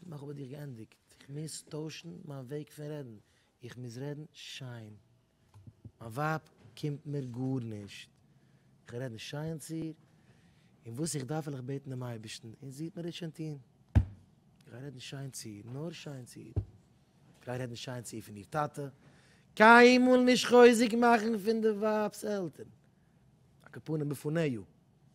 נאך האב איך דיך געענדיגט, איך מוז טוישן מיין וועג פון רעדן, איך מוז רעדן שיין, מיין ווייב קומט מיר גארנישט, איך וועל רעדן שיין צו איר, און וואס איך דארף וועל איך בעטן דעם אייבערשטן, און זי וועט מיר עס שוין טון, איך גיי רעדן שיין צו איר, נאר שיין צו איר, איך גיי רעדן שיין צו איר פון איר טאטע, קיינמאל נישט חוזק מאכן פון די ווייב'ס עלטערן, א כפנים בפניו.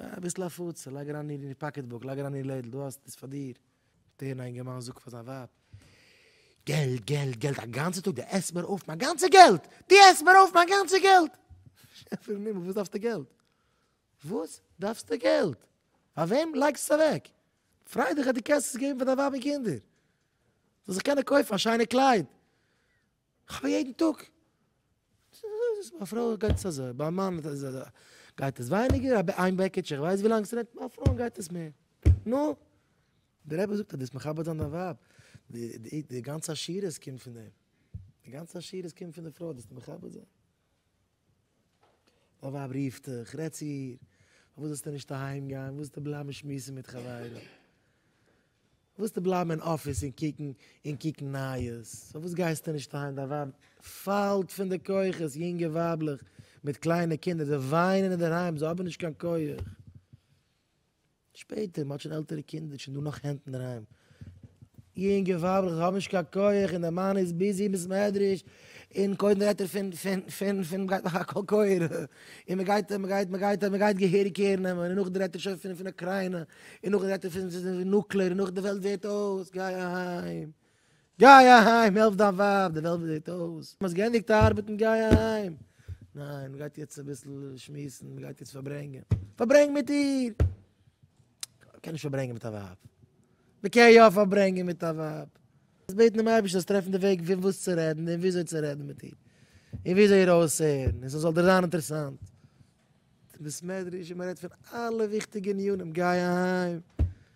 אביסל הפצה, לייג אריין איר אין איר פאקעט בוק, לייג אריין איר לעדל, דו האסט עס פאר דיר. דער אינגערמאן זאגט פאר זיין ווייב, געלט, געלט, געלט, א גאנצע טאג דו עסט מיר אויף מיין גאנצע געלט! דו עסט מיר אויף מיין גאנצע געלט! שעפער אין הימל, וואס דארפסטו געלט? וואס דארפסטו געלט? פאר וועם לייגסטו עס אוועק? פריי דיך אז דו קענסט עס געבן פאר דיין ווייב און קינדער, זאל זיך קענען קויפן א שיינע קלייד, כ'האב יעדן טאג. ביי א פרוי גייט עס אזוי, ביי א מאן איז עס אזוי. גייט עס ווייניגער, א איין בעקיטש, איך ווייס ווי לאנג ס'נעמט, ביי א פרוי גייט עס מער. נו! דער רבי זאגט אז דאס מכבד זיין דיין ווייב, די גאנצע עשירות קומט פון דעם. די גאנצע עשירות קומט פון די פרוי, דאס מכבד זיין. מיין ווייב רופט דיך, רעד צו איר, פארוואס זאלסטו נישט אהיים גיין, פארוואס זאלסטו בלייבן שמועסן מיט חברים, פארוואס זאלסטו בלייבן אין אפיס און קוקן און קוקן נייעס, פארוואס גייסטו נישט אהיים, דיין ווייב פאלט פון די כוחות, יונגע ווייבלעך מיט קליינע קינדער, זיי וויינען אינדערהיים, זיי האבן נישט קיין כח. שפעטער, מען האט שוין עלטערע קינדער, שוין דא נאך הענט אינדערהיים. יונגע ווייבלעך, זיי האבן נישט קיין כח, און דער מאן איז ביזי אין בית מדרש, און קודם רעדט ער פון, פון, פון, פון, מ'גייט מאכן א קול קורא, און מ'גייט, מ'גייט, מ'גייט, מ'גייט געהעריג קער נעמען, און נאכדעם רעדט ער שוין פון, פון אוקריינא, און נאכדעם רעדט ער פון נוקלער, און נאכדעם די וועלט ווערט אויס, גיי אהיים. גיי אהיים, העלף דיין ווייב, די וועלט זעט אויס מ'האט געענדיגט ארבעטן, גיי אהיים. ניין, מ'גייט יעצט אביסל שמועסן, מ'גייט יעצט פארברענגען. פארברענג מיט איר! מ'קען נישט פארברענגען מיט א ווייב. מ'קען יא פארברענגען מיט א ווייב. זאלסט בעטן דעם אייבערשטן זאלסט טרעפן די וועג פון וואס צו רעדן און וויאזוי צו רעדן מיט איר, און וויאזוי איר אויסהערן און ס'זאל דיר זיין אינטערעסאנט. ס'איז ביסמעדרעש און מ'רעדט פון אלע וויכטיגע ענינים, גיי אהיים.